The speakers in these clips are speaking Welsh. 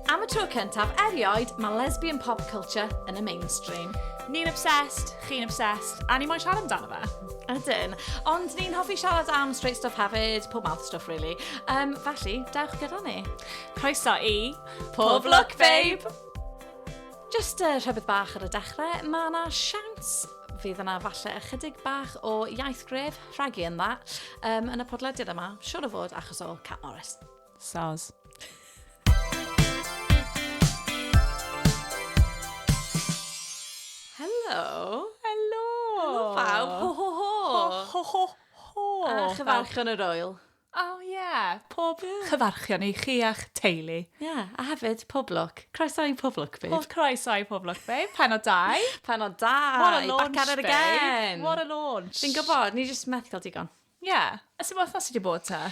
Am y tro cyntaf erioed, mae lesbian pop culture yn y mainstream. Ni'n obsessed, chi'n obsessed, a ni moyn siarad amdano fe. Ydyn. Ond ni'n hoffi siarad am straight stuff hefyd, pob math stuff really. Um, felly, dewch gyda ni. Croeso i... Pob Look Babe! Jyst uh, rhywbeth bach ar y dechrau, mae yna siawns fydd yna falle ychydig bach o iaith gref rhagu yn dda um, yn y podlediad yma, siwr o fod achos o Cat Morris. Soz. Helo. Helo. Helo pawb. Ho ho ho. Ho ho ho. A chyfarch yn yr oel. O oh, ie, yeah. pob yeah. chyfarchion i chi a'ch teulu. Ie, yeah. a hefyd pob lwc. Croeso i pob lwc, babe. Pob croeso i pob lwc, babe. Pen o dau. Pen o dau. What a launch, Back at it again. Babe. What a launch. Fi'n gwybod, ni jyst methu cael digon. Ie. Yeah. A sy'n modd os wedi bod ta?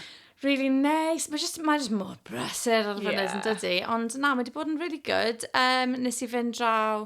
Really nice. Mae just, mae just mor brysur ar y funud yeah. yn dydy. Ond na, mae wedi bod yn really good. Um, nes i fynd draw...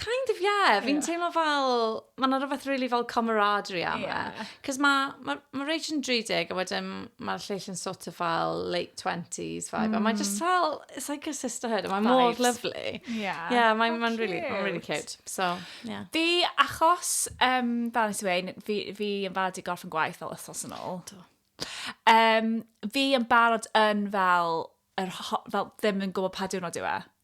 Kind of yeah, yeah. fi'n teimlo fel, mae yna rhywbeth really fel camaraderie am e. Yeah. Cos mae ma, ma Rach yn 30 a wedyn mae'r lleill yn sort of fel late 20s vibe. Mm. A mae mm. just fel, it's like a sisterhood. Mae mor lovely. Yeah. Yeah, mae'n oh, ma really, ma really cute. So, yeah. Fi, achos, um, fel nes i wein, fi, fi yn fad i gorff yn gwaith fel ysos yn ôl. Do. Um, fi yn barod yn fel, er, fel ddim yn gwybod pa diwrnod yw e.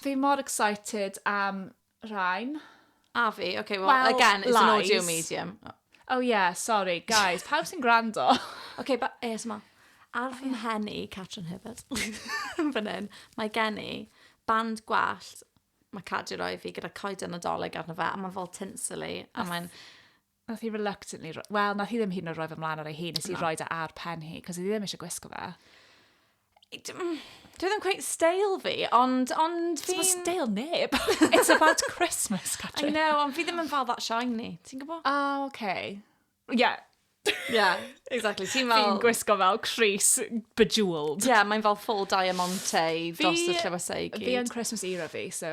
Fi mor excited am rhain. A fi, ok, well, well again, it's an audio medium. Oh yeah, sorry, guys, pawb sy'n gwrando. ok, but ASMR. Ar fy mhen i, Catrin Hibbert, fan hyn, mae gen i band gwallt, mae Cadi roi fi gyda coed y nadolig arno fe, a mae'n fel tinsely, a mae'n... Nath hi reluctantly... ro- Wel, nath hi ddim hyd yn oed roi fy mlaen ar ei hun, nes i roi e ar pen hi, cos oedd hi ddim eisiau gwisgo fe. Dwi ddim cweit steil fi, ond, ond Ti'n bod fi'n... steil neb. It's about Christmas, I Catrin. know, ond fi ddim yn fel that shiny, ti'n gwybod? O, oce. Ie, Yeah, exactly, ti'n fel... fi'n gwisgo fel Chris bejeweled. Yeah, mae'n fel full diamante dros y Fi- llefysau i Fi yn gyd. Christmas era fi, so...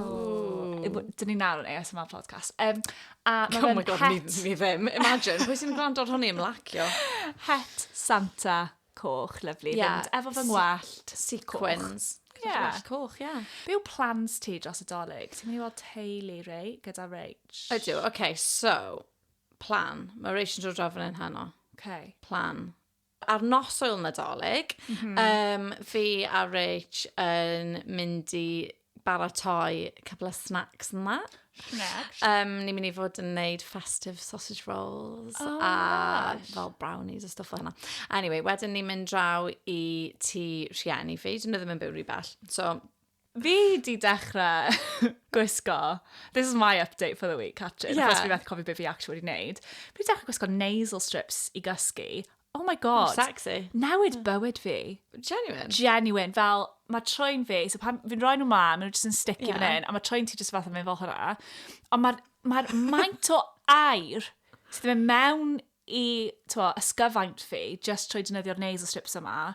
Oh. Dyn ni nawr yn ASMR podcast. Um, a mae oh my god, het... mi, mi ddim. Imagine, pwy sy'n gwrando ar hwnni ymlacio? Het Santa coch, lyflu. Yeah. Fynd efo fy ngwallt. Sequins. Yeah. Gwallt coch, ie. Yeah. Be yw plans ti dros y dolyg? Ti'n mynd i weld teulu rei gyda Rach? Ydw, oce, okay, so, plan. Mae Rach yn dod draw fan hyn heno. Okay. Plan. Ar nos Ŵyl Nadolig, mm -hmm. um, fi a Rich yn mynd i baratoi couple of snacks and that. Snacks? Um, ni'n mynd i fod yn neud festive sausage rolls oh, a nice. fel brownies a stuff o hynna. Anyway, wedyn ni'n mynd draw i ti rhieni fi. Dyn nhw ddim yn byw rhy bell. So, Fi di dechrau gwisgo, this is my update for the week, Catrin, yeah. achos fi fath cofio beth fi actually wedi wneud. Fi di dechrau gwisgo nasal strips i gysgu. Oh my god. Oh, sexy. Newid bywyd fi. Genuine? Genuine, fel mae troi'n fi, so pan fi'n rhoi nhw mlaen, maen nhw jyst yn sticky yeah. fan hyn, a mae troi'n ti jyst fath yn mynd fel hwnna. Ond mae'r ma, r, ma maint o air sydd yn mewn i twa, ysgyfaint fi, just trwy dynyddio nails y strips yma,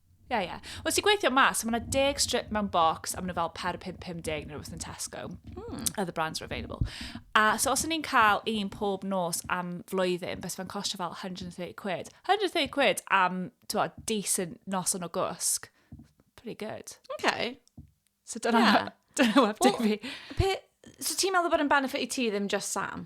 Ie, ie. Wel, ti'n gweithio mas, so mae yna deg strip mewn bocs, a maen nhw fel per 5.50 neu rhywbeth yn Tesco. Mm. Other brands are available. A so os o'n i'n cael un pob nos am flwyddyn, bys fe'n costio fel 130 quid. 130 quid am, ti'n gwybod, decent noson o gwsg. Pretty good. Okay. So dyna, yeah. dyna web well, fi. Pe, so ti'n meddwl bod yn benefit i ti ddim just Sam?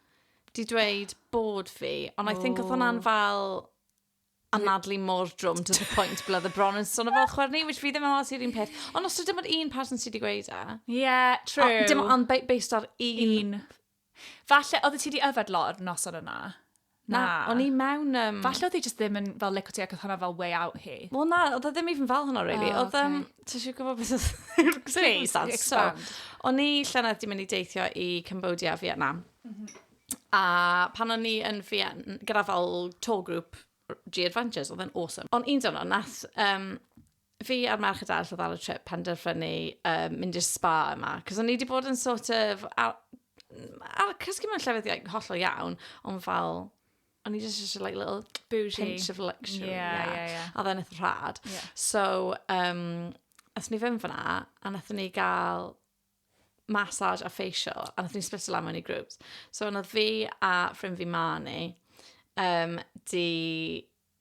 di dweud bod fi, ond I think oedd hwnna'n fel anadlu mor drwm to the point ble oedd y bron yn son o fel chwer ni, which fi ddim yn meddwl sydd un peth. Ond os ydym ond un person sydd wedi gweud e. Yeah, true. A, dim ond based ar un. Un. Falle, oedd ti wedi yfed lot o'r noson yna? Na, o'n i mewn... Um... Falle oedd hi just ddim yn fel lico ti ac oedd hwnna fel way out hi. Wel na, oedd e ddim even fel hwnna really. Oh, okay. Oedd, um, Ti eisiau gwybod beth oedd circumstance? So, o'n i llynedd di mynd i deithio i Cambodia a Vietnam. Mm -hmm. A pan o'n i yn Vietnam, gyda fel tour group G Adventures, oedd yn awesome. Ond un dyno, nath um, fi a'r merch y dall oedd ar y trip penderfynu um, mynd i'r spa yma. Cos o'n i wedi bod yn sort of... Ar, ar cysgu mewn llefydd hollol iawn, ond fel o'n i just eisiau like little Bougie. pinch of luxury. Ie, yeah. ie, ie. A then eitha rhad. Ie. So, um, athyn ni fynd fyna, a nathyn ni gael massage a facial, a nathyn ni split lan mewn i groups. So, yna fi a ffrind fi Marnie, um, di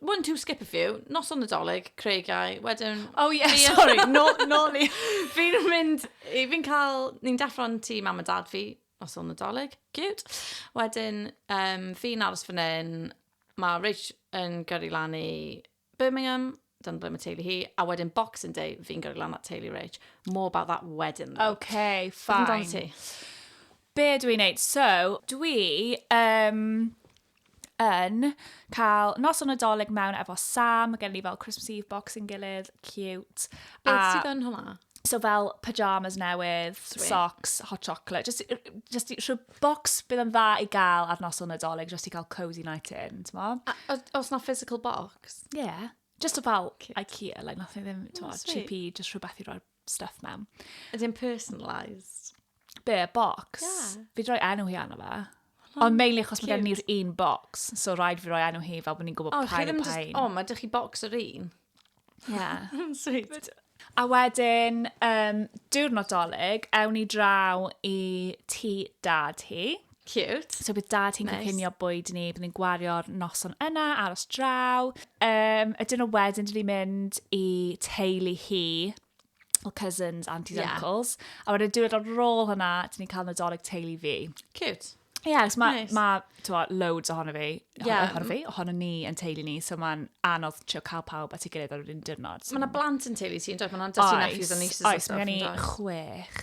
one, two, skip a few, nos o'n nadolig, creigiau, wedyn... Oh yeah, yeah. sorry, no, no, ni. fi'n mynd, fi'n cael, ni'n deffro'n ti mam a dad fi, nos o'n nadolig, cute. Wedyn, um, fi'n aros fan hyn, mae Rich yn gyrru lan i Birmingham, dyna ble mae teulu hi, a wedyn Boxing Day, fi'n gyrru lan at teulu Rich. More about that wedyn. Okay, fine. Be dwi'n neud? So, dwi... Um, yn cael nos o Nadolig mewn efo Sam, mae gen ni fel Christmas Eve box yn gilydd, cute. Beth sydd yn hwnna? So fel pyjamas newydd, Sweet. socks, hot chocolate, just, just rhyw box bydd yn dda i gael ar nos o Nadolig, just i cael cozy night in, ti'n mo? Os na physical box? Yeah. Just o fel Ikea, like, nath ni ddim, ti'n mo, cheapy, just rhywbeth i roi'r stuff mewn. Ydy yn personalised? Be, box? Yeah. Fi droi enw hi arno fe. Oh, Ond mainly achos mae gen ni'r un box, so rhaid fi roi enw hi fel bod ni'n gwybod oh, pa'n yn pa'n. O, mae dych chi box yr un? Yeah. Sweet. A wedyn, um, diwrnod dolyg, ewn ni draw i ti dad hi. Cute. So bydd dad hi'n nice. cynllunio bwyd ni, bydd ni'n gwario'r noson yna, aros draw. Um, a dyn nhw wedyn, dyn ni'n mynd i teulu hi, o cousins, aunties, yeah. uncles. A wedyn diwedd ar ôl hwnna, dyn ni'n cael nadolig teulu fi. Cute. Ie, yeah, mae nice. ma, ma loads ohono fi, yeah. ohono fi, ohono ni yn teulu ni, so mae'n anodd trio cael pawb at ei gilydd ar yr un diwrnod. So. Mae yna blant yn teulu ti, yn dweud, mae yna dysgu nephews a nieces. Oes, mae gen i chwech.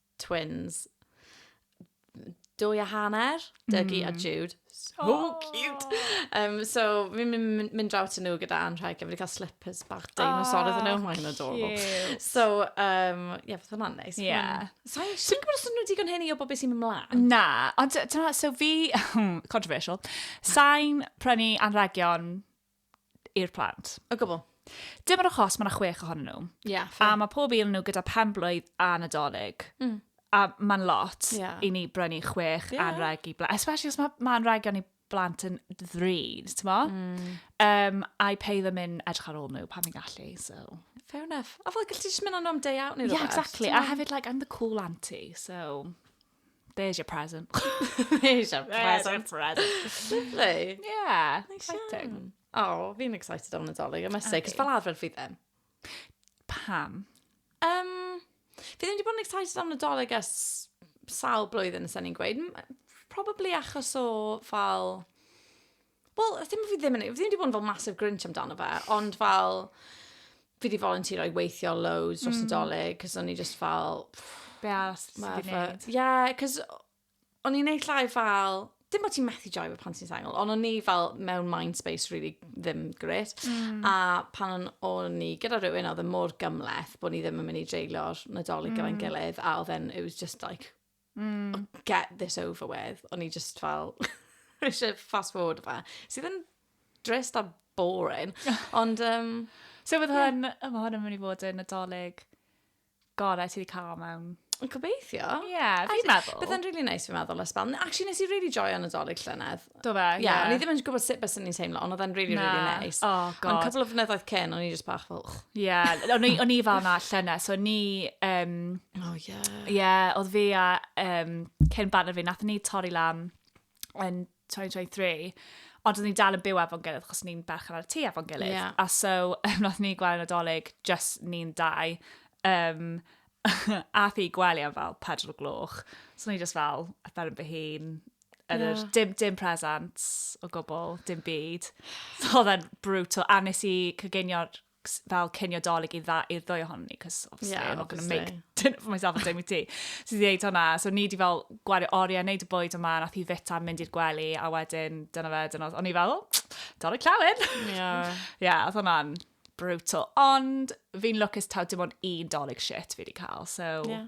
twins. Dwy a hanner, Dougie mm. a Jude. So oh. cute! Um, so, fi'n mynd, mynd draw to nhw gyda anrheg, a fi wedi cael slippers bach dinosaur iddyn nhw, mae'n adorable. So, um, ie, yeah, hwnna'n neis. Ie. Yeah. So, ti'n gwybod os nhw digon hynny o bob beth sy'n mynd mlaen? Na, ond dyna, so fi, controversial, sain prynu anrhegion i'r plant. O gwbl. Dim ond achos mae yna chwech ohonyn nhw. Yeah, a mae pob un nhw gyda pen blwydd a nadolig. Mm. A mae'n lot yeah. i ni brynu chwech yeah. anreg i blant. Especially os mae ma anregion i blant yn ddrud, ti'n mo? Mm. Um, I pay them in edrych ar ôl nhw pan fi'n gallu, so... Fair enough. A fel, gallu ti jyst mynd o'n day out neu rhywbeth? Yeah, exactly. A hefyd, like, I'm the cool auntie, so... There's your present. There's your present. Lovely. Yeah, exciting. Oh, fi'n excited o'n Nadolig, I must say, cos fel arfer fi ddim. Pam? Um, fi ddim wedi bod yn excited o'n Nadolig as sawl blwyddyn, nes ni'n gweud. Probably achos o fel Wel, ddim fi ddim yn... Fi ddim wedi bod yn fel massive grinch amdano fe, ond fel... Fi wedi volunteero i weithio loads dros y mm. dolyg, cos o'n i just fel... Be as ti wedi gwneud? Ie, cos o'n i'n neud llai fel... Dim bod ti'n methu joio fe pan ti'n sengl, ond o'n i fel mewn mind space really ddim gret. Mm. A pan o'n i gyda rhywun, oedd e mor gymleth bod ni ddim yn mynd i dreulio'r nadolig mm. gyda'n gilydd, a oedd e'n, it was just like, Mm. Get this over with. O'n i just fel, eisiau fast forward fe. Sydd yn drist a boring. Ond, um, So bydd yeah. hwn, yma hwn yn mynd i fod yn adolyg gorau ti wedi cael mewn. Yn gobeithio. Ie, yeah, fi'n meddwl. Bydd yn really nice fi'n meddwl, Ysbel. Actually, nes i really joio nadolig llynedd. Do fe? Ie. Yeah. O'n i ddim yn gwybod sut beth o'n i'n teimlo, ond oedd e'n really, Na. really nice. Oh, Ond god. cwbl o flynyddoedd cyn, o'n i just bach fel... Ie. O'n i- o'n i fel na llynau, so o'n ni... Um, Oh, ie. Ie, yeah, oedd fi a um, cyn banner fi, nath ni torri lan yn 2023, ond oedd ni dal yn byw efo'n gilydd, achos ni'n berchen ar y tŷ efo'n gilydd. Ie. A so, um, nath ni gweld yn adolyg, just ni'n dau, um, a thi gwely am fel pedwar o gloch. So o'n i just fel, ar ben fy hun, Yn yr, yeah. dim, dim presents o gwbl, dim byd. So oedd e'n brutal. A nes i cygenio'r fel cynio dolyg i dda i'r ddwy ohono ni, cos obviously yeah, I'm not going to make dinner for myself and Jamie tea. So i ddeud hwnna, so ni di fel gwario oriau, neud y bwyd yma, nath i fita, mynd i'r gwely, a wedyn dyna fe, dyna o'n i fel, dolyg llawen. Ie. Yeah. yeah, oedd hwnna'n brutal. Ond fi'n lwcus taw dim ond un dolyg shit fi wedi cael, so... Yeah.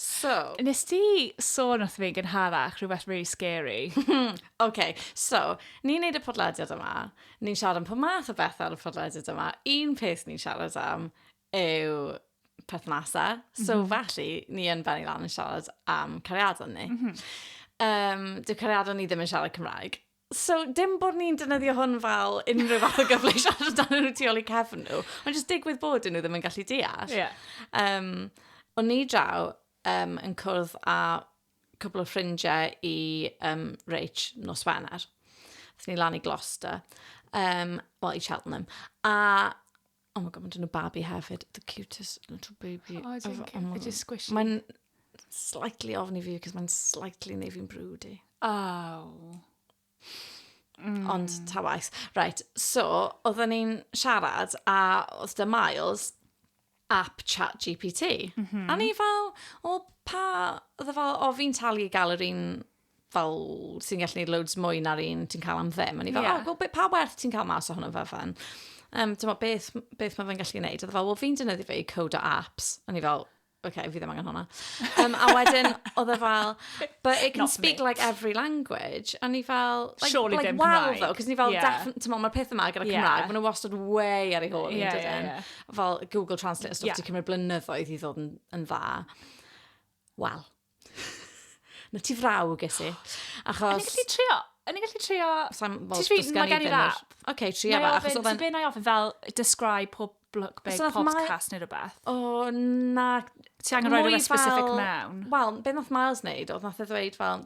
So... Nes ti sôn wrth fi yn gynharach rhywbeth really scary. OK, so, ni'n neud y podlediad yma, ni'n siarad am pob math o bethau ar y podlediad yma, un peth ni'n siarad am yw perthnasau, so mm -hmm. felly ni yn benni lan yn siarad am cariadon ni. Mm -hmm. um, dyw cariadon ni ddim yn siarad Cymraeg. So, dim bod ni'n dynyddio hwn fel unrhyw fath o gyfle i siarad amdano nhw tu ôl i cefn nhw, ond jyst digwydd bod nhw ddim yn gallu deall. Yeah. Um, o'n ni draw um, yn cwrdd â cwbl o ffrindiau i um, Rach nos Wener. Athyn ni lan i Gloucester, um, wel i Cheltenham. A Oh my god, mae'n dyn o babi hefyd. The cutest little baby. Oh, dwi'n cyn. It's just squishy. Mae'n slightly ofn i fi, cos mae'n slightly neu fi'n brwd i. Oh. Mm. Ond ta waith. Right, so, oedden ni'n siarad, a oedd dy Miles, app chat GPT. Mm -hmm. A ni fel, o, pa, oedd e fel, o, fi'n talu i gael yr un fel sy'n gallu gwneud loads mwy na'r un ti'n cael am ddim. O'n i fel, yeah. oh, well, pa werth ti'n cael mas o hwnnw fe fan? Um, Dyma beth, beth mae fe'n gallu gwneud. Oedd e fel, wel fi'n dynyddu fe i code o apps. O'n i fel, oce, okay, fi ddim angen hwnna. Um, a wedyn, oedd e fel, but it can Not speak me. like every language. O'n i fel, like, Surely like, well though, cos ni fel, yeah. ti'n mae'r peth yma gyda yeah. Cymraeg, maen nhw wastad way ar ei hôl. Yeah, yeah, yeah. Fel Google Translate, stwff yeah. ti'n cymryd blynyddoedd i ddod yn, yn dda. Wel, Na ti frawg, ges i. Achos... Yn i'n gallu trio? Yn i'n gallu trio... Sa'n fawr dysgu ni gen i rap. Ok, trio fe. Achos oedd e'n... Ti'n ofyn fel, describe pob look big, pob cast neu rhywbeth? O, na. Ti angen rhoi rhywbeth specific mewn? Wel, beth nath Miles wneud, oedd nath e ddweud fel,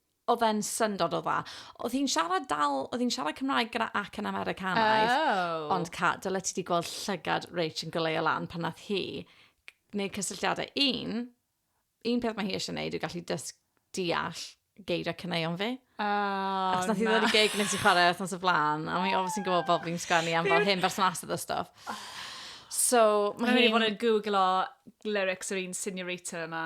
oedd e'n syndod o dda. Oedd hi'n siarad dal, oedd hi'n siarad Cymraeg gyda ac yn Americanaidd. Oh. Ond ca, dyle ti di gweld llygad Rach yn goleu lan pan nath hi gwneud cysylltiadau. Un, un peth mae hi eisiau gwneud yw gallu dysg deall geiriau cyneuon fi. Oh, Achos nath hi ddod i gig nes i chwarae wythnos y flan, a mae obviously yn gwybod bob fi'n sgwennu am fel hyn bersonasydd a stuff. Oh. So, mae hi'n... Mae'n mynd i fod yn googlo lyrics yr un seniorita yma.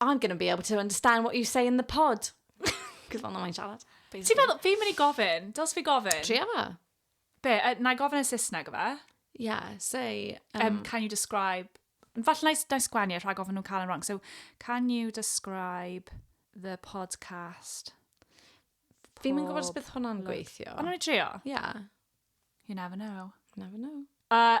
I'm going to be able to understand what you say in the pod. Cos fel na mae'n siarad. Ti'n meddwl, fi'n mynd i gofyn, dyls fi gofyn. Tria fa. Be, uh, na i gofyn yn Saesneg o fe? Yeah, say... Um, um, can you describe... Falle na i sgwennu rhag ofyn nhw'n cael yn wrong. So, can you describe the podcast? Fi'n mynd gwybod os bydd hwnna'n gweithio. Ond nhw'n i trio? Yeah. You never know. Never know. Uh,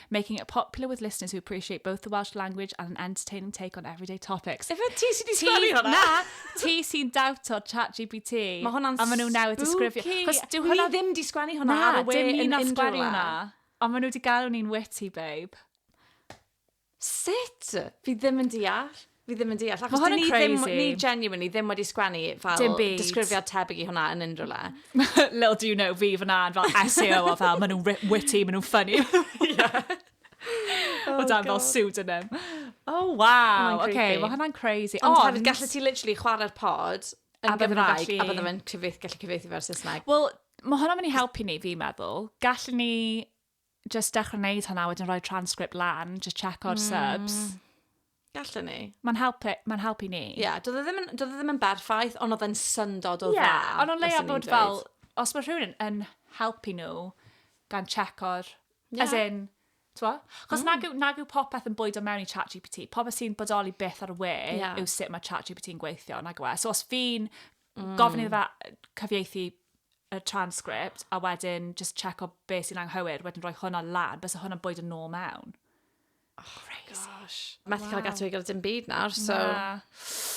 making it popular with listeners who appreciate both the Welsh language and an entertaining take on everyday topics. Ife ti sy'n di sgwennu hwnna? Na, ti sy'n dawto'r chat GPT. Mae hwnna'n spooky. A maen nhw newydd disgrifio. Cos dwi hwnna... Ni ddim di sgwennu hwnna ar y we yn unrhyw le. sgwennu hwnna. Ond maen nhw wedi galw ni'n witty, babe. Sut? Fi ddim yn deall. Fi ddim yn deall. Mae hwn yn crazy. Ni genuinely ddim wedi sgwennu fel disgrifiad tebyg i hwnna yn unrhyw le. Little do you know, fi fyna yn fel SEO o fel, maen nhw'n witty, maen nhw'n funny. O dan fel pseudonym. Oh, wow. Oce, okay, mae hwnna'n crazy. Ond hefyd, gallu ti literally chwarae'r pod yn Gymraeg a bydde fe'n gallu cyfeithi fe'r Saesneg. Wel, mae hwnna'n mynd i helpu ni, fi'n meddwl. Gallu ni jyst dechrau wneud hwnna, wedyn rhoi transcript lan, jyst checko'r mm. subs. Gallwn ni. Mae'n helpu, mae'n helpu ni. Ie, yeah, doedd e ddim, e ddim yn berffaith, ond oedd e'n syndod o yeah, dda. Ie, ond o'n leia bod fel, os mae rhywun yn, yn helpu nhw gan checko'r, yeah. as in, Twa? Chos mm. nag, yw, nag yw popeth yn bwydo mewn i chat GPT. Popeth sy'n bodoli byth ar y we yeah. yw sut mae chat GPT yn gweithio, nag yw e. So os fi'n mm. gofyn iddo fe cyfieithu y transcript a wedyn just check o be sy'n anghywir, wedyn rhoi hwnna lan, bys hwnna'n bwyd yn nôl mewn. Oh, Crazy. Gosh. Methu wow. cael gatw i gyda dim byd nawr, so... Na.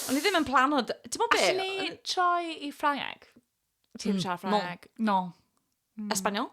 O'n i ddim yn plan o... Ti'n mwyn beth? Alli ni troi i Ffrangeg? Ti'n mm, siarad Ffrangeg? No. no. Mm. Espanol?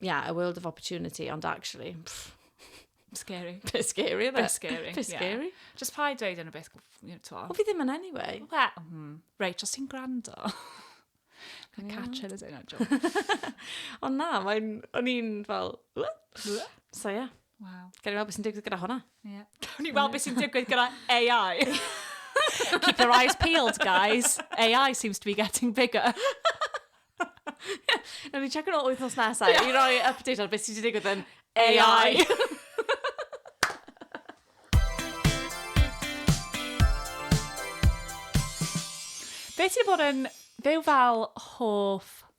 yeah, a world of opportunity, ond actually, pff, Scary. bit scary, isn't Bit it? scary. Bit yeah. scary. Just pa i dweud yn y beth, you know, t'mo'. Wel, fi ddim yn anyway. Wel, hmm. Reit, os ti'n gwrando. Mae'n catcher is it, not joke. Ond na, mae'n, o'n i'n fel, "Wha?" so yeah. Waw. Gawn ni weld beth sy'n digwydd gyda hwnna. Ie. Gawn ni weld beth sy'n digwydd gyda AI. Keep your eyes peeled, guys. AI seems to be getting bigger. Nawr ni check yn ôl wythnos nesaf yeah. i roi update ar beth sydd wedi digwydd yn AI. Beth sydd wedi bod yn... Fe fel hoff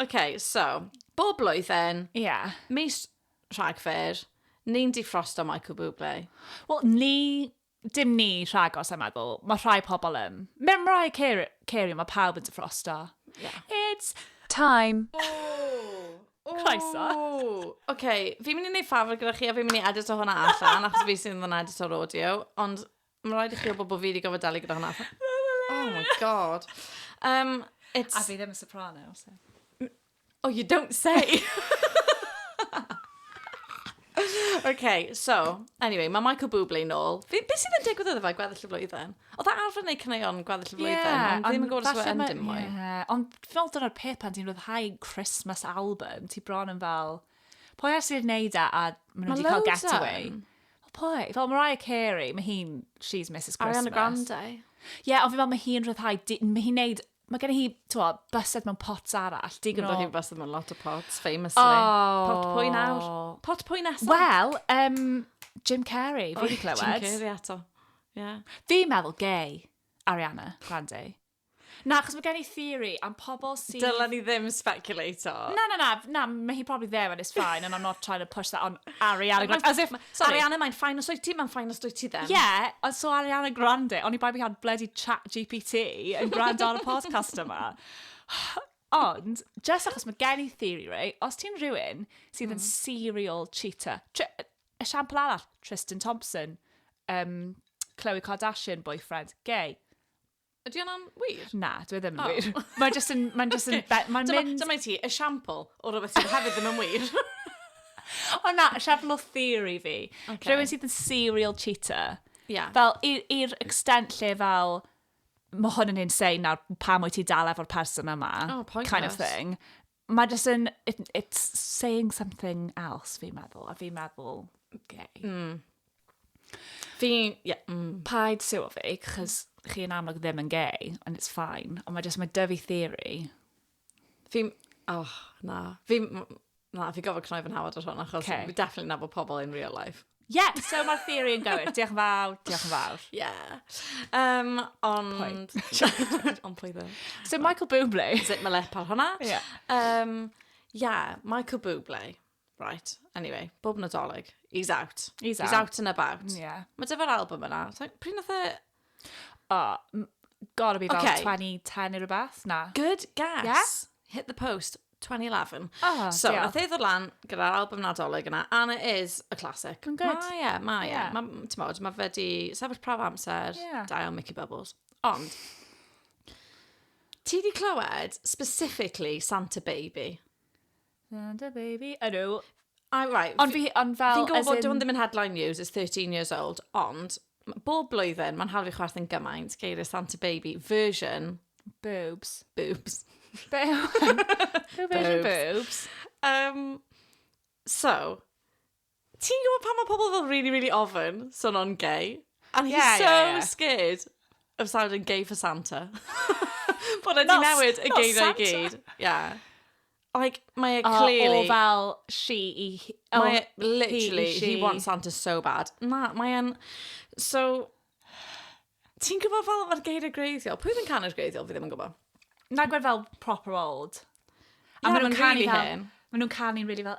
OK, so, bob blwyddyn... Ie. ...mis Rhagfyr, ni'n difrosto Michael Bublé. Wel, ni... Dim ni, rhagor, sa i'n meddwl. Mae rhai pobl yn. Mae Mariah Care- Carey, mae pawb yn difrosto. Ie. It's time! Ww! Croeso. Ww! OK, fi'n mynd i wneud ffafr gyda chi a fi'n mynd i edito hwnna allan, achos fi sydd yn edito'r audio, ond... Mae'n rhaid i chi wybod bod fi wedi gofod dalu gyda hwnna. Oh my god. Um, it's... A fi ddim yn soprano, so. Oh, you don't say! okay, so, anyway, mae Michael Bublé nôl. Fi, beth sydd yn digwydd oedd fe gweddill y flwyddyn? Oedd e arfer neu cyneuon gweddill y flwyddyn? Yeah, ond ddim yn gwybod os yw'n dim mwy. Yeah, ond fi'n meddwl dyna'r peth pan ti'n rhyddhau Christmas album, ti bron yn fel... Pwy ar sy'n neud e a maen nhw wedi cael getaway? O pwy? Fel Mariah Carey, mae hi'n, she's Mrs Christmas. Ariana Grande. Ie, yeah, ond fi fel mae hi'n rhyddhau, mae hi'n neud, mae gen hi, twa, bysedd mewn pots arall. Di gyda no. hi'n bysedd mewn lot o pots, famously. Oh. Pot pwy nawr? Pot pwy nesaf? Wel, um, Jim Carrey, fi wedi clywed. Jim Carrey ato. Yeah. Fi'n meddwl gay, Ariana Grande. Na, achos mae gen i theory am pobl sydd... Dylen ni ddim speculato. Na, na, na, na, mae hi probably there and it's fine and I'm not trying to push that on Ariana Grande. As if, sorry. Ariana, mae'n ffain os dwyt ti, mae'n ffain os dwyt ti ddim. Yeah, ond so Ariana Grande, oni bai bod hi ar bloody chat GPT yn gwrando ar y podcast yma. Ond, just achos mae gen i theory, right? Os ti'n rhywun sydd yn serial cheater, tr- esiampl arall, Tristan Thompson, um, Khloe Kardashian, boyfriend, gay. Ydy hwnna'n wir? Na, dwi e ddim yn wir. Mae jyst yn... Mae'n jyst yn... Mae'n mynd... Dyma ti, esiampl o rhywbeth sydd hefyd ddim yn wir. O na, siampl o theory fi. Okay. Rhywun sydd yn serial cheater. Yeah. Fel, i'r extent lle fel, mae hwn yn insane nawr, pam wyt ti dal efo'r person yma? Oh, pointless. Kind of thing. Mae jyst yn... it- it's saying something else, fi'n meddwl, a fi'n meddwl, okay. Mm. Fi, yeah, mm. Paid siw fi, cos chi yn amlwg ddim yn gay, and it's fine. Ond mae jyst, mae dyfu theory. Fi, oh, na. Fi, na, fi gofod cnoi fy nhawod ar hwn, achos okay. fi definitely nabod pobl in real life. Yeah, so mae'r theori yn gywir. Diolch yn fawr, diolch yn fawr. Yeah. Um, ond... ond pwy ddim. So Michael Bublé. Sut mae lepal hwnna? Yeah. Um, yeah, Michael Bublé. Right, anyway, bob nadolig. He's out. He's out. He's out and about. Yeah. Mae dyfa'r album yna. Pryd nath e Oh, m- gotta be about Ocê. 2010 neu rhywbeth, na? Good guess. Yeah? Hit the post, 2011. Oh, So, diolch. nath e ddod lan gyda'r album Nadolig yna, and it is a classic. Mae'n good. Mae e, mae e. Ie. Mae, ti'n modd, mae fe di sefyll prawf amser, Ie. da iawn Mickey Bubbles. Ond, ti di clywed specifically Santa Baby? Send a baby. I know. I, right. Ond fi, ond fel... Fi'n gwybod bod in... hwn ddim yn headline news, it's 13 years old, ond bob blwyddyn mae'n hawdd i chwerthin gymaint geiriau Santa Baby version... Boobs. Boobs. Boobs. version boobs. Um, so, Ti'n gwybod pan mae pobl fel really really ofyn son o'n gay? And he's yeah, so yeah, yeah. scared of sounding gay for Santa. Bod e di newid y geiriau i gyd. Yeah. Like, mae e clearly... O, fel she i... Oh, mae e, literally, he, she. he wants Santa so bad. Na, mae e'n... So, ti'n gwybod fel mae'r geiriau greiddiol? Pwy fi'n canu'r greiddiol? Fi ddim yn gwybod. Na gwed fel proper old. A yeah, maen nhw'n canu fel... Maen nhw'n canu'n really fel...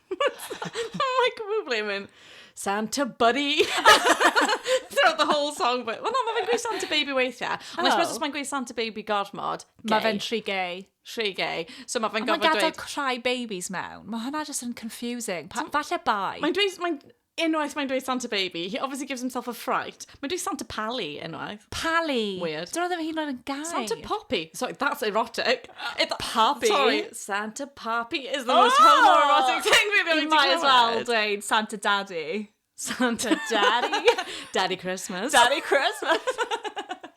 I'm like, we were blaming Santa Buddy throughout the whole song. But, well, no, mae fe'n gweud Santa Baby weithiau. Ond I suppose os mae'n gweud Santa Baby gormod, gay. Mae fe'n rhy gay. Rhy gay. So mae fe'n gofod dweud... Mae gadael cry babies mewn. Mae hwnna just yn confusing. Pa, falle bai. Mae'n dweud... Mae'n Unwaith mae'n dweud Santa Baby, he obviously gives himself a fright. Mae'n dweud Santa Pally unwaith. Pally. Weird. Dyna ddim hyd yn oed yn gair. Santa Poppy. Sorry, that's erotic. It, Poppy. Sorry, Santa Poppy is the oh! most homoerotic thing we've ever might as well dweud Santa Daddy. Santa Daddy. Daddy Christmas. Daddy Christmas.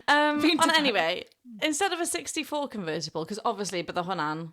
um, on anyway, instead of a 64 convertible, because obviously bydde hwnna'n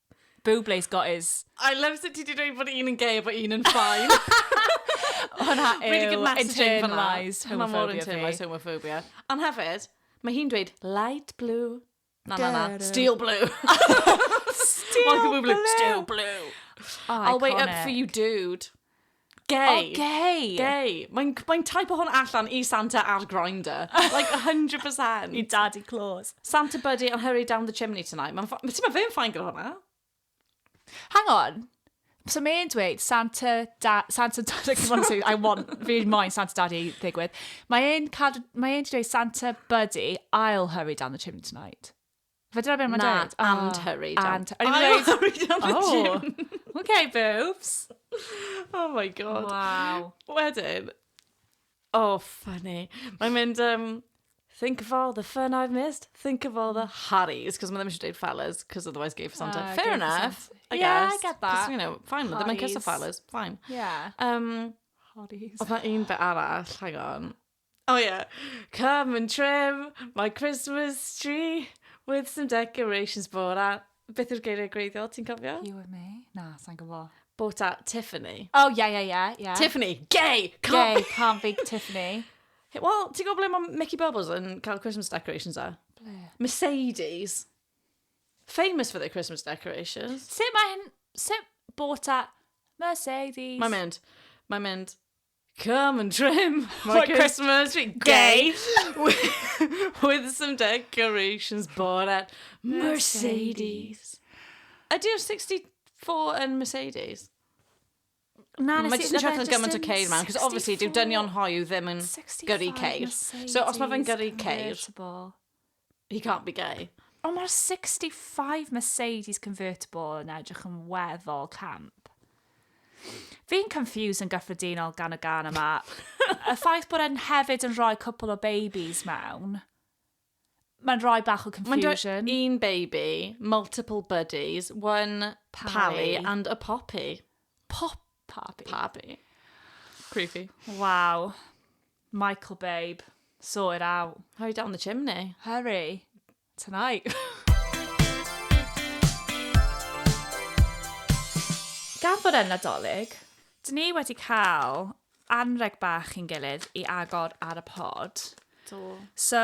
Bublé's got his. I love sut ti 'di dweud bod un yn gay a bod un yn fine. Hwnna yw really good messaging fanna. Internalised homophobia fi. Mae mor internalised homophobia. Ond hefyd, mae hi'n dweud light blue. Na, na, na. Steel blue. Steel blue. Steel blue. I'll wait up for you, dude. Gay. Oh, gay. Gay. Mae'n mae type o hwn allan i Santa ar Grindr. Like, 100%. I Daddy Claus. Santa Buddy and Hurry Down the Chimney Tonight. Mae'n ffa... Ti'n ma fe'n ffain gyda hwnna? Hang on. So mae'n dweud Santa... Da, Santa Daddy... I want... Fi moyn Santa Daddy ddigwydd. Mae'n cael... Mae'n dweud Santa Buddy, I'll hurry down the chimney tonight. Fe dyna beth mae'n Na, dweud? and hurried out. And, I'm I'm hurried out the oh, gym. okay, boobs. Oh my god. Wow. Wedyn, oh, funny. Mae'n mynd, um, think of all the fun I've missed, think of all the harries, cos mae ddim eisiau dweud fellas, cos otherwise gay for Santa. Ah, Fair gay for enough, Santa. I Yeah, I guess. get that. 'Cos, you know, fine, mae ddim yn kiss o Harries. fellas, fine. Yeah. Um, Hotties. oedd na un bit arall, hang on. Oh yeah. Come and trim my Christmas tree with some decorations bought at... Beth yw'r geiriau gwreiddiol, ti'n cofio? You and me? Na, sa'n gwybod. Bought at Tiffany. Oh, yeah, yeah, yeah, yeah. Tiffany, gay! Can't gay, can't be Tiffany. Wel, ti'n gwybod ble mae Mickey Bubbles yn cael Christmas decorations a? E? Ble? Mercedes. Famous for their Christmas decorations. Sut mae hyn... Sut bought at Mercedes? Mae'n mynd. Mae'n mynd. Come and trim my, my Christmas tree. Gay. with, with some decorations bought at Mercedes. Ydy'r 64 yn Mercedes? Na, nes i... Mae jyst yn siarad yn gymaint o ceir man, cos obviously, dyw dynion hoiw ddim yn gyrru ceir. So, os mae fe'n gyrru ceir... He can't be gay. Ond mae'r 65 Mercedes convertible yn edrych yn weddol camp. Fi'n confused yn gyffredinol gan y gan yma. y ffaith bod e'n hefyd yn rhoi cwpl o babies mewn, mae'n rhoi bach o confusion. Mae'n un baby, multiple buddies, one pally, pally and a poppy. Pop papi. Papi. Creepy. Wow. Michael babe, sort it out. Hurry down the chimney. Hurry. Tonight. Gan fod yn Nadolig, dyn ni wedi cael anreg bach i'n gilydd i agor ar y pod. Do. So,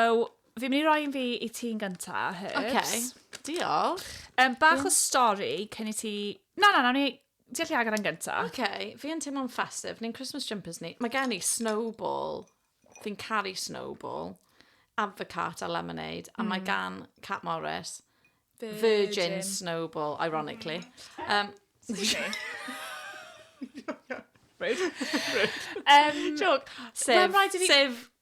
fi'n mynd i roi un fi i ti'n gynta, Herbs. OK, diolch. Um, bach o stori cyn i ti... Na, na, na, ni... Ti allu agor e'n gynta? Ok, fi yn teimlo'n festif, ni'n Christmas jumpers ni. Mae gen i snowball, fi'n caru snowball, advocat a lemonade, a mae gan Cat Morris virgin snowball, ironically. Um, Rude. Rude. Um, Joke. Sef, sef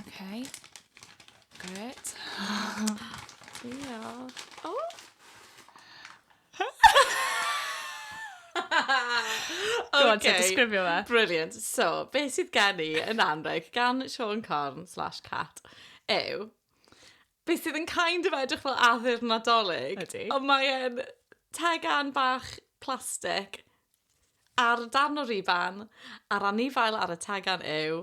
Okay. Great. Diolch. O! Gwrdd ti'n disgrifio fe? Brilliant. So, beth sydd gen i yn anreg gan Sean Corn slash Cat yw beth sydd yn kind of edrych fel addurn nadolig. Ydy. Ond mae'n tegan bach plastig ar darn o riban a'r anifail ar y tegan yw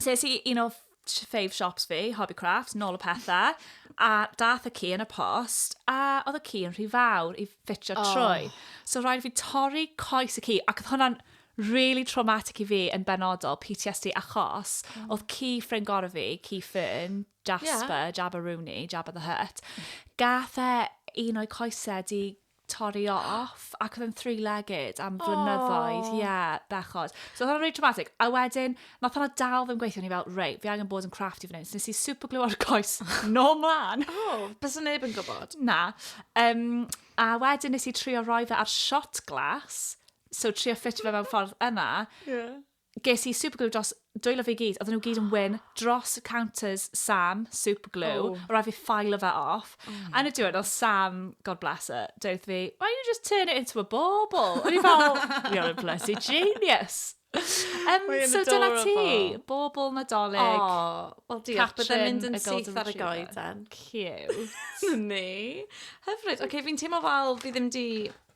Ses i un o fave shops fi, Hobby Crafts, nôl y pethau, a dath y ci yn y post, a oedd y ci yn rhy fawr i ffitio oh. trwy. So rhaid fi torri coes y ci, ac oedd hwnna'n really traumatic i fi yn benodol, PTSD, achos mm. oedd ci ffrind gorau fi, ci ffyn, Jasper, yeah. Jabba Rooney, Jabba the Hutt, gath e un o'i coesau di torri off, ac oedd e'n three legged am flynyddoedd, ie, yeah, bechod. So oedd hwnna'n really traumatic, a wedyn, nath hwnna dal fi'n gweithio, ni fel, rei, fi angen bod yn crafty fan hyn, so nes i super glue ar coes, no mlan. Oh, bys yn neb yn gwybod. Na. Um, a wedyn nes i trio roi fe ar shot glass, so trio ffitio fe mewn ffordd yna. Yeah. Ges i superglue dros dwylo fi gyd, oedden nhw gyd yn wyn dros counters Sam, superglue, oh. o rai fi ffailo fe off. Oh Yn y diwrnod, Sam, God bless her, dweud fi, why don't you just turn it into a bauble? O'n i fel, you're a bloody genius. Um, so dyna ti, bobl nadolig. Oh, wel diolch, byddai'n mynd yn syth ar y goeden. Cute. Ni. Hyfryd. Oce, okay, fi'n teimlo fel fi ddim di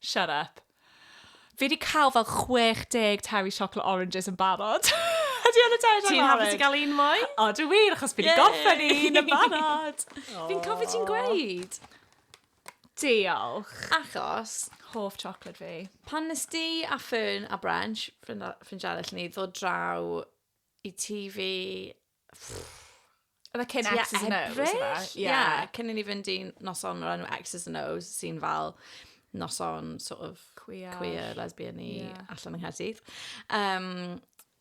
Shut up. Fi 'di cael fel 60 Terry Chocolate Oranges yn barod. Ydy hwn yn Terry Chocolate Orange? Ti'n hapus i gael un mwy? O, dwi wir, achos fi 'di gorffen un yn barod. Fi'n cofio ti'n gweud. Diolch. Achos... Hoff chocolate fi. Pan nes di a Fern a Brensh, ffrind arall i ni, ddod draw i tŷ fi Oedd e cyn X's and O's? Ebrill? Ie, yeah. cyn i ni fynd i noson o'r enw X's and O's, sy'n fel noson sort of queer, queer lesbian i yeah. allan yng Nghaerdydd. Um,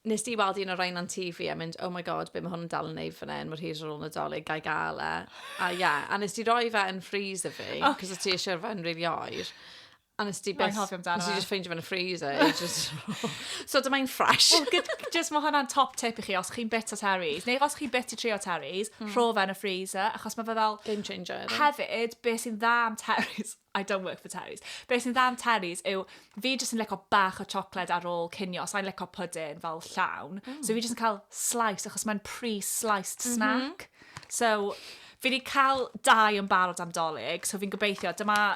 nes di weld un o'r rhain on TV a mynd, oh my god, be mae hwn yn dal yn neud fan hyn, mor hir ar ôl nadolig, gael gael e. A ia, yeah, a nes di roi fe yn freezer fi, oh, cos yeah. ti eisiau fe'n rili oer. A nes ti beth... Nes i just ffeindio fe'n y freezer. just... so dyma i'n ffresh. well, just mae hwnna'n top tip i chi os chi'n bit o terries. Neu os chi'n bit i trio terries, mm. rho fe'n y freezer. Achos mae fe fel... Game changer. Hefyd, be sy'n dda am terries... I don't work for terries. Be sy'n dda am terries yw, fi jyst yn leco bach o chocolate ar ôl cinio. Sa'n leco pwdyn fel llawn. Mm. So fi jyst yn cael slice, achos mae'n pre-sliced mhm. snack. Mm -hmm. So, fi wedi cael dau yn barod am dolyg. So fi'n gobeithio, dyma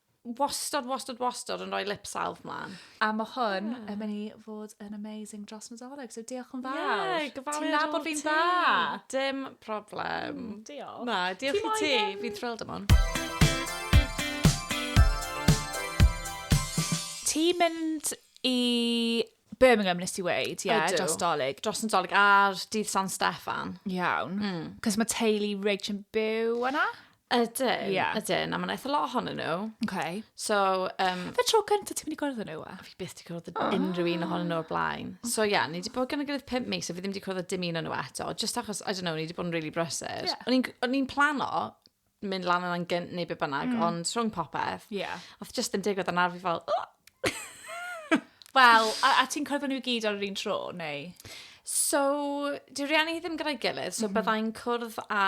wastad, wastad, wastad yn rhoi lip salve mlaen. A mae hwn yeah. yn mynd i fod yn amazing dros Nadolig, so diolch yn fawr. Yeah, gyfaliad Ti'n nabod fi'n dda. Dim problem. Mm, diolch. Na, diolch i ti. Fi'n thrilled am hwn. Ti'n mynd i Birmingham nes i weud, ie, yeah, dros dolyg. Dros yn dolyg ar dydd San Steffan. Iawn. Mm. Cos mae teulu Rich yn byw yna? Ydyn, yeah. ydyn, a mae'n eitha lot ohonyn nhw. Okay. So, um, Fe tro cyntaf ti'n mynd i gwrdd nhw, a? Fi beth di gwrdd oh. unrhyw un ohonyn nhw o'r blaen. So, ie, yeah, ni wedi bod gan y gyda'r pimp mis, a fi ddim wedi gwrdd dim un o'n nhw eto, just achos, I don't know, ni wedi bod yn really brysur. Yeah. O'n i'n plano mynd lan yna'n gynt neu be bynnag, mm. ond rhwng popeth, yeah. oedd just yn digwydd yn arfi fel, oh! Wel, a, a ti'n cwrdd nhw gyd ar yr un tro, neu? So, di rieni ddim gyda'i gilydd, so mm -hmm. byddai'n cwrdd a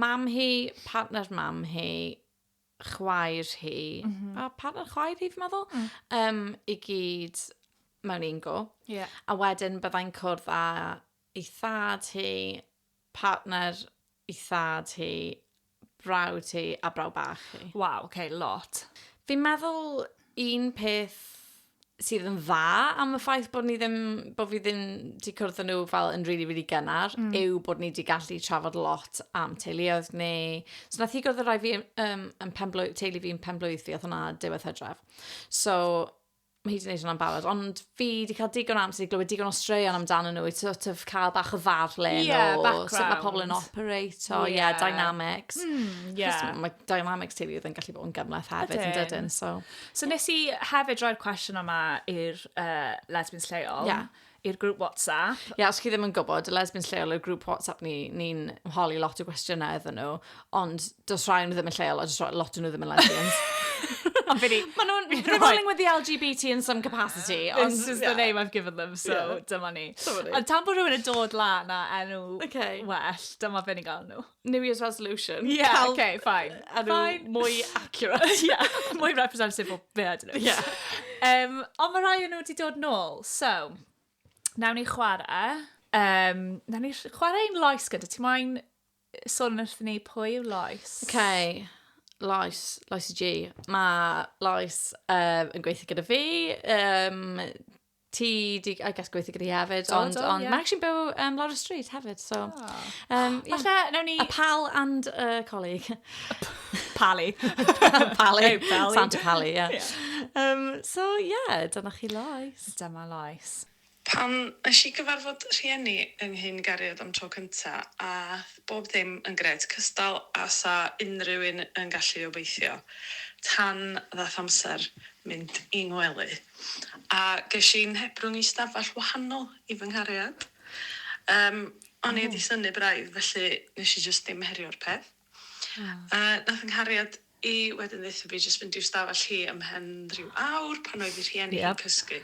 mam hi, partner mam hi, chwaer hi, mm -hmm. a partner chwaer hi, fi'n meddwl, mm. um, i gyd mewn un go. Yeah. A wedyn byddai'n cwrdd a ei thad hi, Partner i thad hi, brawd hi a brawd bach hi. Waw, ok, lot. Fi'n meddwl un peth sydd yn dda am y ffaith bod ni ddim, bod fi ddim wedi cwrdd â nhw fel yn rili, rili gynnar, yw bod ni wedi gallu trafod lot am teuluoedd ni. So wnaeth hi gwrdd â rhai fi yn pen-blwydd... teulu fi yn pen-blwydd fi, oedd hwnna diwedd Hydref. So... mae hi 'di neud hwnna'n barod, ond fi 'di cael digon o amser i glywed digon o straeon amdanyn nhw i sort of cael bach o ddarllen Ie, o sut mae background. pobl yn operato, ie, Ie. dynamics. Mm, ie. Achos mae dynamics teulu oedd yn gallu bod yn gymleth hefyd yn Ydyn. dydyn, so... So nes i hefyd roi'r cwestiwn yma i'r uh, lesbians lleol. Ie. i'r grŵp WhatsApp. Ie, yeah, os chi ddim yn gwybod, y lesbians lleol i'r grŵp WhatsApp ni, ni'n holi lot o gwestiynau iddyn nhw, ond dos rhai nhw ddim yn lleol, a dos rhai lot nhw ddim yn lesbians. Ond fi ni... Maen nhw'n revolving with the LGBT in some capacity, ond this is yeah. the name I've given them, so yeah. dyma ni. Ond tan bod rhywun yn dod lan a enw okay. well, dyma fe ni'n gael nhw. New Year's resolution. Yeah, Cael okay, fine. Enw fine. mwy accurate. yeah, mwy representative o be, I don't know. Yeah. Um, ond mae rhai nhw wedi dod nôl, so, nawn ni chwarae. Um, nawn ni chwarae un loes gyda. Ti moyn sôn wrth ni pwy yw loes? Okay. Loes, Loes G. Mae Loes um, yn gweithio gyda fi. Um, ti di, I guess, gweithio gyda hi hefyd, do, ond, do, ond yeah. mae actually'n byw um, Laura Street hefyd, so... Oh. Um, yeah. Alla, nawn ni... A pal and a uh, colleague. Pali. Pali. Hey, Pali. Santa Pali, yeah. yeah. Um, so, yeah, dyna chi loes. Dyma loes. Pam nes i gyfarfod rhieni yng nghyn gariad am tro cynta a bob dim yn gred cystal a sa unrhyw un yn gallu obeithio tan ddath amser mynd i ngwely. a ges i 'nghebrwng i stafell wahanol i fy nghariad. Yym, o'n i 'di synnu braidd, felly nes i jyst ddim herio'r peth. Yy, nath 'nghariad i wedyn ddeutho fi jyst fynd i'w stafell hi ymhen ryw awr pan oedd 'i rhieni hi'n cysgu.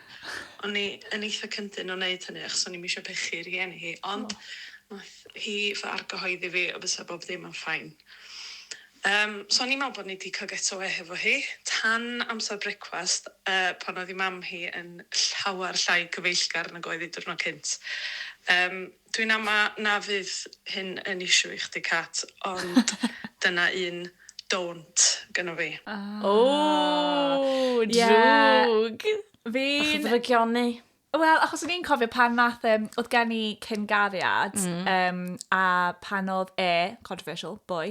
O'n i yn eitha cyndyn o neud hynny achos o'n i'm isio pechu rhieni hi, ond nath hi fy argyhoeddi fi y bysa bob dim yn fine. Yym, so o'n i'n me'wl bod ni 'di ca'l get awê hefo hi, tan amser brecwast, yy, pan oedd 'i mam hi yn llawer llai cyfeillgar nag oedd 'i diwrnod cynt. Yym, dwi'n ama na fydd hyn yn issue i chdi Cat, ond dyna un don't gynno fi. Aww! Aww! Drwg! Ie! Fi'n... Bach o ddrygioni. Wel, achos o'n i'n cofio pan nath, um, oedd gen i cyn-gariad, mm. um, a pan oedd e, controversial, boy,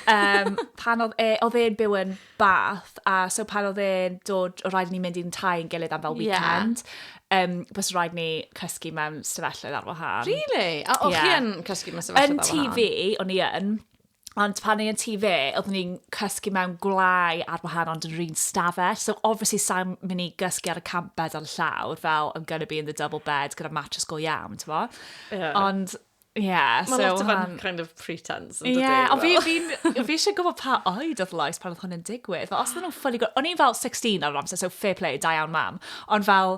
um, pan oedd e, oedd e'n byw yn bath, a so pan oedd e'n dod, o rhaid ni mynd i'n tai yn gilydd am fel weekend, yeah. um, bys rhaid ni cysgu mewn stafelloedd ar wahân. Really? A o'ch yeah. chi yn cysgu mewn stafelloedd ar wahân? Yn TV, o'n i yn. Ond pan ni yn tŷ fe, oeddwn ni'n cysgu mewn gwlâu ar wahan ond yn yr un stafell. So obviously sa'n mynd i gysgu ar y camp bed ar y llawr, fel I'm gonna be in the double bed gyda mattress go iawn, ti'n bo? Yeah. Ond, ie. Yeah, Mae so, lot o fan kind of pretense. Ie, yeah, ond fi, fi, fi eisiau gwybod pa oed oedd Lois pan oedd hwn yn digwydd. Fel, os ydyn nhw'n ffynu... O'n i'n fel 16 ar yr amser, so fair play, da iawn mam. Ond fel,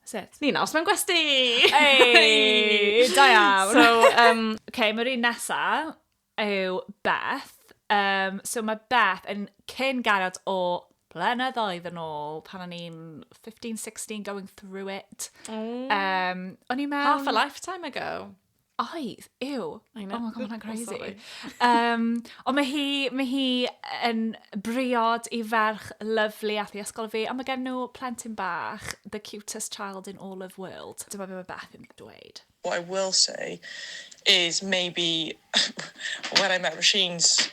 That's it. Nina, os mae'n gwesti! Ei! Da iawn! So, um, okay, mae'r un nesa yw Beth. Um, so mae Beth yn cyn garod o blynyddoedd yn ôl, pan o'n i'n 15, 16, going through it. Mm. Um, o'n i mewn... Half a lifetime ago. Oedd, yw. I know. Oh my God, ma' hwnna'n crazy. Um, ond mae hi, mae hi yn briod i ferch lyflu ath i ysgol fi, a mae gen nhw plentyn bach, the cutest child in all of world. Dyma be mae Beth yn dweud. What I will say is maybe when I met Rashine's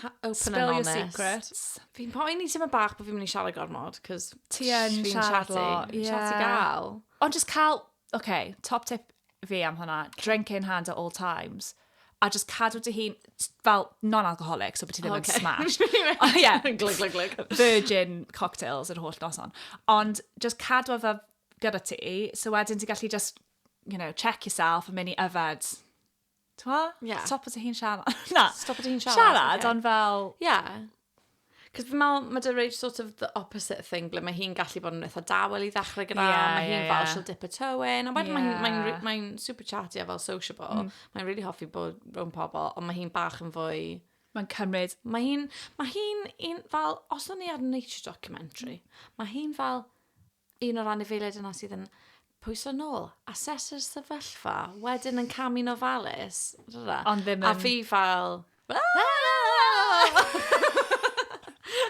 Ha, open Spill and honest. Spill your secrets. Fi'n poeni ti'n mynd bach bod fi'n mynd i siarad gormod, cos... Ti yn siarad lo. Fi'n siarad i gael. Ond just cael, oce, okay, top tip fi am hwnna, drink in hand at all times a just cadw dy hun, fel non-alcoholic, so bod ti ddim yn smash. O ie, glyg, glyg, glyg. Virgin cocktails yr holl noson. Ond just cadw fe gyda ti, so wedyn ti'n gallu just, you know, check yourself a mynd i yfed Twa? Yeah. Stop at y hi'n siarad. Na. Stop at y hi'n siarad. Siarad, okay. ond fel... Yeah. Cos fi'n meddwl, mae dy rage sort of the opposite thing, ble mae hi'n gallu bod yn eitha dawel i ddechrau gyda, yeah, mae hi'n yeah, fel yeah. she'll dip a toe in, a wedyn yeah. mae'n mae mae mae super chatty a fel sociable, mm. mae'n really hoffi bod rhwng pobl, ond mae hi'n bach yn fwy... Mae'n cymryd. Mae hi'n, mae hi'n un fel, os o'n ni ar nature documentary, mm. mae hi'n fel, un o'r anifeiliaid yna sydd yn pwyso nôl, asesu'r sefyllfa, wedyn yn camu'n ofalus. Ond ddim yn... A fi fel...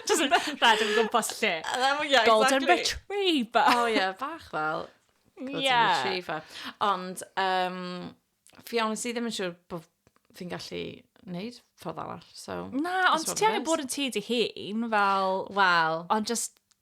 Just rhaid yn gwmpas lle. Yeah, Golden exactly. retriever. Oh yeah, bach fel. Golden yeah. retriever. Ond, um, fi ond sydd ddim yn siŵr bod fi'n gallu wneud ffordd arall. So, Na, ond ti angen bod yn ti dy hun, fel... Wel. Ond just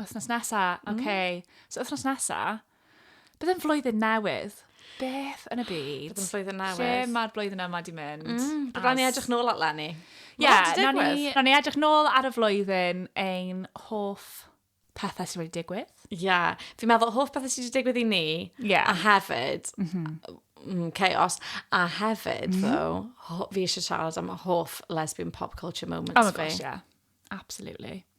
Wythnos nesa, oce. Okay. Mm. So wythnos nesa, bydd yn flwyddyn newydd. Beth yn y byd? Bydd yn flwyddyn newydd. Lle mae'r blwyddyn yma di mynd? Mm. As... Rhaid ni edrych nôl at Lenny. Ie, yeah, na ni, na ni edrych nôl ar y flwyddyn ein hoff pethau sydd wedi digwydd. Ie, yeah. fi'n meddwl hoff pethau sydd wedi digwydd i ni, yeah. a hefyd, mm -hmm. mm, chaos, a hefyd, mm -hmm. though, fi eisiau siarad am hoff lesbian pop culture moments oh my gosh, fi. yeah. Absolutely.